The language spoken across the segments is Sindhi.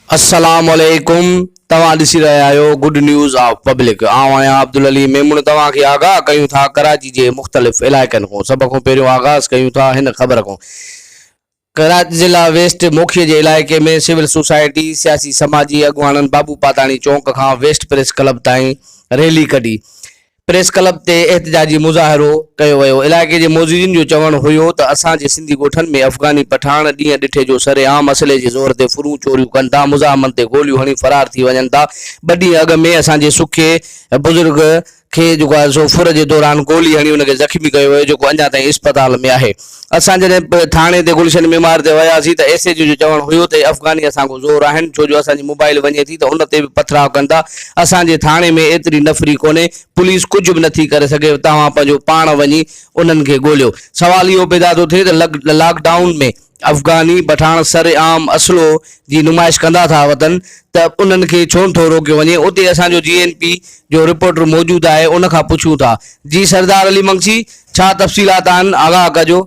السلام عليڪم توهان ڏسي رهيا آهيو گڊ نيوز آف پبلڪ آئون آهيان عبدالعلي ميمڻ توهان کي آگاهه ڪيون ٿا ڪراچي جي مختلف علائقن کان سڀ کان پهريون آغاز ڪيون ٿا هن خبر کان ڪراچي ضلع ويسٽ موکيء جي علائقي ۾ سول سوسائٽي، سياسي سماجي اڳواڻن بابو پاتاڻي چونڪ کان ويسٽ پريس ڪلب تائين ريلي ڪڍي پريس ڪلب تي احتجاجي مظاهرو ڪيو ويو علائقي جي معززين جو چوڻ هيو ته اسان جي سنڌي ڳوٺن ۾ افغاني پٺاڻ ڏينهن ڏٺي جو سر عام اسلحي جي زور تي ڦرون چوريون ڪن ٿا مزاحمن تي گوليون هڻي فرار ٿي وڃن ٿا ٻه ڏينهن اڳ ۾ اسان جي سکي بزرگ کي جيڪو آهي سو ڦر جي دوران گولي هڻي ان کي زخمي ڪيو ويو جيڪو اڃا تائين اسپتال ۾ آهي اسان جڏهن به ٿاڻي تي گلشن معمار تي وياسين ته ايس ايچ او جو چوڻ هيو ته هي افغاني اسان کان زور آهن ڇو جو اسان جي موبائل وڃي ٿي ته ان تي به پٿراء ڪن ٿا اسان جي ٿاڻي ۾ ايتري نفري ڪونهي پوليس ڪجهه به نٿي ڪري سگهي توهان پنهنجو پاڻ وڃي انهن کي ڳوليو سوال اهو پيدا ٿو ٿئي ته لاڪ ڊائون ۾ افغاني پٺاڻ سر عام اسلحو جي نمائش ڪندا ٿا وتن ته انهن کي ڇو نه ٿو روڪيو وڃي اتي اسان جو جي اين پي جو رپورٽر موجود آهي ان کان پڇون ٿا جي سردار علي مگسي ڇا تفصيلات آهن آگاهه ڪجو.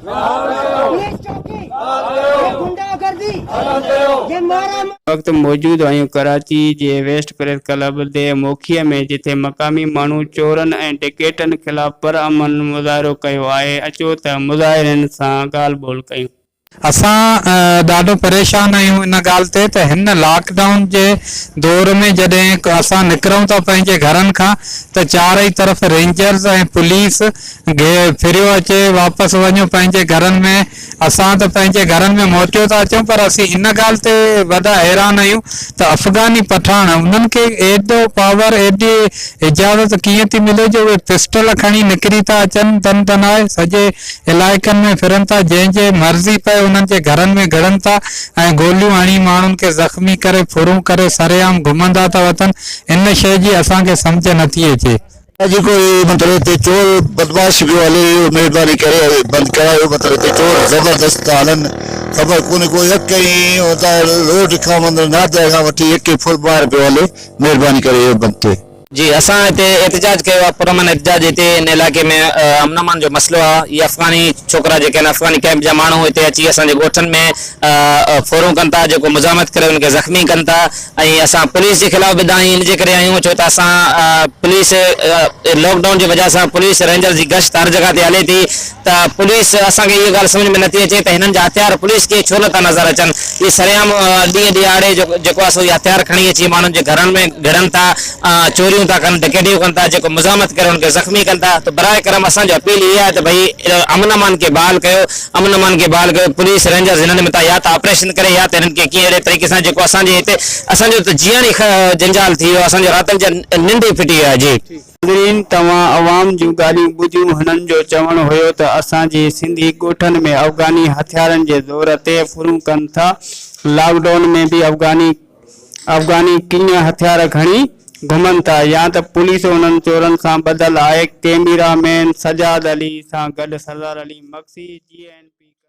هن وقت موجود هيون ڪراچي جي ويسٽ پريس ڪلب دي موکيء ۾ جتي مقامي ماڻهو چورن ۽ ڊڪيٽن خلاف پرامن مظاهرو ڪيو آهي اچو ته مظاهرين سان ڳالهه ٻولهه ڪيون. اسان ڏاڍو پريشان آهيون ان ڳالهه تي ته هن لاڪ ڊائون جي دور ۾ جڏهن اسان نڪرون ٿا پنهنجي گهرن کان ته چارئي طرف رينجرز ۽ پوليس گهي ڦريو اچي واپس وڃون پنهنجي گهرن ۾، اسان ته پنهنجي گهرن ۾ موٽيو ٿا اچون پر اسين ان ڳالهه تي وڏا حيران آهيون ته افغاني پٺاڻ انهن کي ايڏو پاور ايڏي اجازت ڪيئن ٿي ملي جو اهي پسٽل کڻي نڪري ٿا اچن تن تنائي سڄي علائقن ۾ ڦرن ٿا جنهن جي مرضي پئي انهن جي گهرن ۾ گهڙن ٿا ۽ گوليون هڻي ماڻهن کي زخمي ڪري ڦرون ڪري سرعام گهمندا ٿا وتن ان شئي جي اسان کي سمجهه نٿي اچي اڄ ڪو اهي مطلب هتي چور بدمعاش پيو هلي اهو مهرباني ڪري بند ڪرايو مطلب هتي چور زبردست ٿا هلن خبر ڪونهي ڪو يڪ ۽ هتان روڊ کان مطلب نادرا کان وٺي يڪ ئي ڦر ٻاهر پيو هلي مهرباني ڪري اهو بند ٿئي. جي اسان هتي احتجاج ڪيو آ پر امن احتجاج هتي ان علائقي ۾ امن امان جو مسئلو آ اهي افغاني ڇوڪرا جيڪي آهن افغاني ڪئمپ جا ماڻهو هتي اچي اسان جي ڳوٺن ۾ ڦورون ڪن ٿا جيڪو مزاحمت ڪري ان کي زخمي ڪن ٿا ۽ اسان پوليس جي خلاف به دانهين ان جي ڪري آهيون ڇو ته اسان پوليس لاڪ ڊائون جي وجهه سان پوليس رينجر جي گشت هر جڳهه تي هلي ٿي ته پوليس اسان کي اهي ڳالهه سمجهه ۾ نٿي اچي ته هنن جا هٿيار پوليس کي ڇو نٿا نظر اچن اهي سرعام ڏينهن ڏيهاڙي جيڪو آهي سو اهي هٿيار کڻي اچي ماڻهن جي گهرن ۾ گهڙن ٿا چوريون ٿا ڪن ڊڪيٽيون ڪن ٿا جيڪو مزاحمت ڪري ان کي زخمي ڪن ٿا ته برائي ڪرم اسان جو اپيل اهي آهي ته ڀئي امن امان کي بحال ڪيو امن امان کي بحال ڪيو، پوليس، رينجرز هنن مٿان يا ته آپريشن ڪري يا ته هنن کي ڪنهن اهڙي طريقي سان جيڪو اسان جي هتي اسان جو ته جيئڻ ئي جنجال ٿي ويو آهي، اسان جو راتن جا ننڊ ئي ڦٽي ويو آهي. جي. ناظرين توهان عوام جون ڳالهيون ٻڌيون هنن جو چوڻ هيو ته اسان جي سنڌي ڳوٺن ۾ افغاني هٿيارن جي زور تي ڦرون ڪن ٿا لاڪ ڊائون ۾ به افغاني افغاني ڪيئن هٿيار کڻي گهمن ٿا يا ته پوليس انهن چورن سان ٻڌل آهي، ڪيميرا مين سجاد علي سان گڏ Sardar Ali Magsi, G N P Karachi.